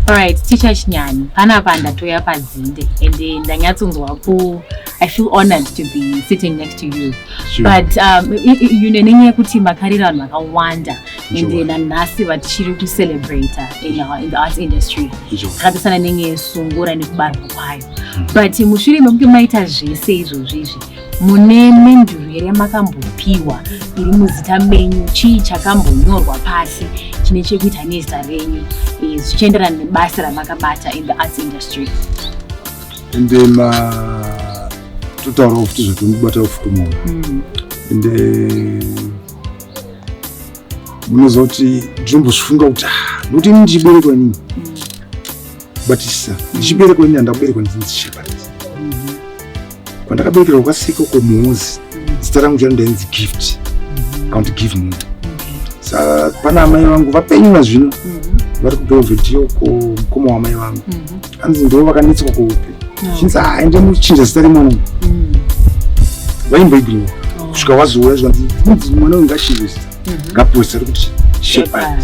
Alright, ticha chinyani panapa ndatoya padzinde and eh, ndanyatsonzwa ku I feel honored to be sitting next to you sure. but um, you know nenyaya yekuti makarira vanhu vakawanda and then nanhasi vatichiri kucelebrate in, our, in the arts industry zvakapesana nenyaya yesungura nekubarwa kwayo hmm. but mushure mekunge maita zvese izvozvi izvi Mune menduru here makambopiwa iri muzita menyu? Chii chakambonyorwa pasi chine chekuita nezita renyu eh, zvichienderana nebasa ramakabata in the arts industry? Ende ma totaurawo futi zvatomubata ufukuma hmm. ende munozoti ndinombozvifunga kuti ah, nokuti ini ndichiberekwa nini but sir ndichiberekwa ini handakuberekwa ndinzi shepherd kwandakaberekerwa kwasiko kumuuzi zita rangu charo ndainzi gift aunti give me sa pana amai vangu vapenyu nazvino vari kubelvedio ko mukoma wamai vangu anzi ndo vakanetswa kuupe chinzi haa ende muchinja zita remwana vaimboiginowa kusvika wazoura zvanzi mwana uyu ngashive zita ngapoisa rikuti shepherd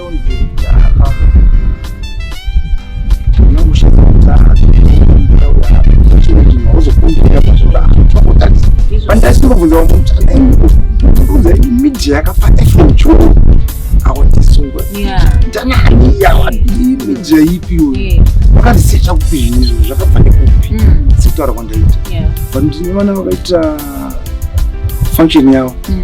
ndasingobvunzawo munhu anaiuza media yakafana ifocho awatisungwa ndanani yawadii media ipi uyu wakandisecha kupi zvinhu izvo zvakafane kupi mm. sekutaura kwandaita but ndine vana vakaita function yavo mm.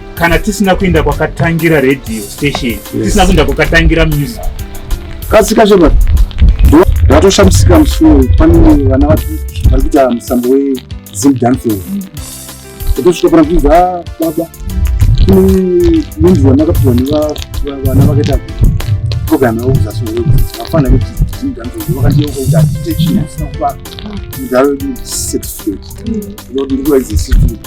kana tisina kuenda kwakatangira radio station tisina kuenda kwakatangira music kasika shema ndatoshamisika musi uyu pane vana vari kuita musambo wezim dancing ndotosvika pana kuiza ah, baba kune munhu wamakapiwa nevana vakaita program yavo kuzasi vafana kuti zim dancing vakandiyeuka kuti atitechi asina kuva mudharo wedu certificate ndikuva izi certificate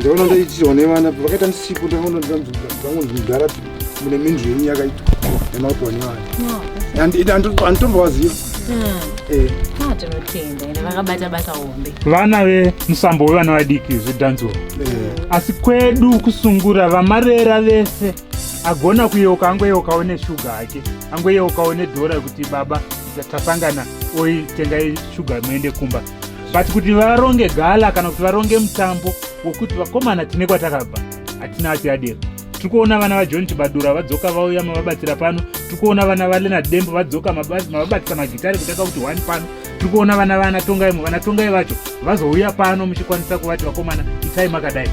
ndaona ndaiitirwa nevana vakaita misipo ndakaona ndangondara mune minzwi yenyu yakaitwa nemaitwa nevana anditombovaziva vana vemusambo wevana vadiki zvidhanzuro eh. asi kwedu kusungura vamarera vese agona kuyeuka angoyeukawo neshuga hake angoyeukawo nedhora kuti baba tasangana oitengai shuga muende kumba but kuti varonge gala kana kuti varonge mutambo wokuti vakomana tine kwatakabva hatina atiadero tiri kuona vana vajohn chibadura vadzoka vauya mavabatsira pano tiri kuona vana valenard dembo vadzoka mavabatsira magitare kutaka kuti one pano tiri kuona vana vana tongai mu vana tongai vacho vazouya pano muchikwanisa kuvati vakomana itai makadai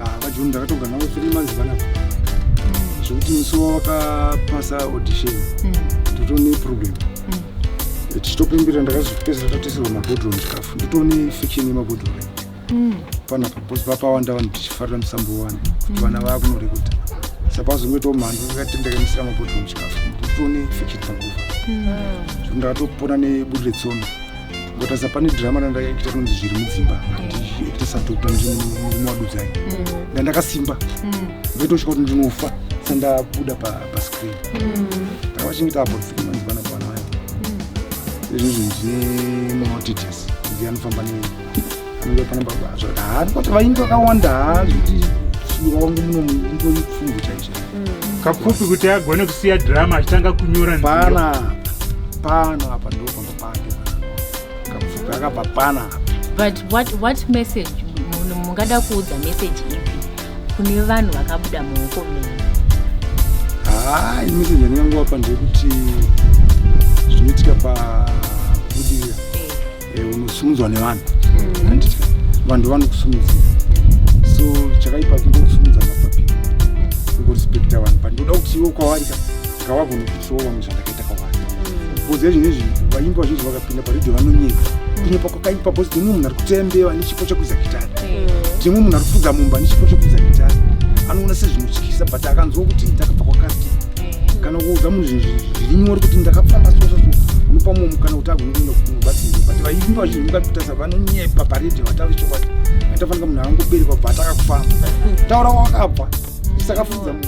ah, vajoni ndakatonga navo three months vanavo hmm. zvekuti musi wavakapasa audition hmm. totone problem hmm. tichitopembera ndakazopedzera tateserwa mabhodhoro muchikafu nditone fiction yemabhodhoro mm. panapa bcause papawanda vanhu tichifarira musambo wani kuti mm. vana vava kunorekuta sapazongoitawo mhandu akatendekanisira mabhodhoro muchikafu nditone fiction panguva mm. so ndakatopona neburi retsono ngotasa pane drama randakaita kunonzi zviri mudzimba ndiita sadokta ndimurume wadudzai ndandakasimba ndoitosvika kuti ndinofa sandabuda pascreen ndakavachengeta apo kusvika manzivana kwana vayo izvozvo ndine maotitis ndianofamba ne kuti vainge vakawanda hazviti wangu muno mungori pfumvu chaizvo mm. kapfupi kuti agone kusiya drama achitanga kunyora pana pano apa ndopamba pake kapfupi akabva pana but what, what message munhu mungada kuudza message ipi kune vanhu vakabuda muoko menyu haa ini message yandingangovapa ndeyekuti zvinoitika pa Eh, unosumudzwa nevanhu mm. vanhu vanokusumudza so chakaipa kuda kusumudza napapi kurespekta vanhu but ndoda kuti iwo kwavari ka ngavagonokusawo vamwe zvandakaita kwavari bcoz ezvinhu izvi vaimbi vazhinji vakapinda paredhio vanonyepa kunyepa kwakaipa bcoz timwe munhu ari kuteya mbeva nechipo chekuiza gitari timwe munhu ari kufudza mumba nechipo chekuiza gitari anoona sezvinotyisa but akanzwa kuti ndakabva kwakati kana kuudza munhu zvinhu zviri nyori kuti ndakafamba soso unopa mumwe mukana kuti agone kuenda kubatsirwa but vaimba zvinhu vakatasa vanonyepa paredhi vatauri chokwadi aitafanika munhu avangoberekwa bva atakakufamba taura wakabva isakafudza mumbi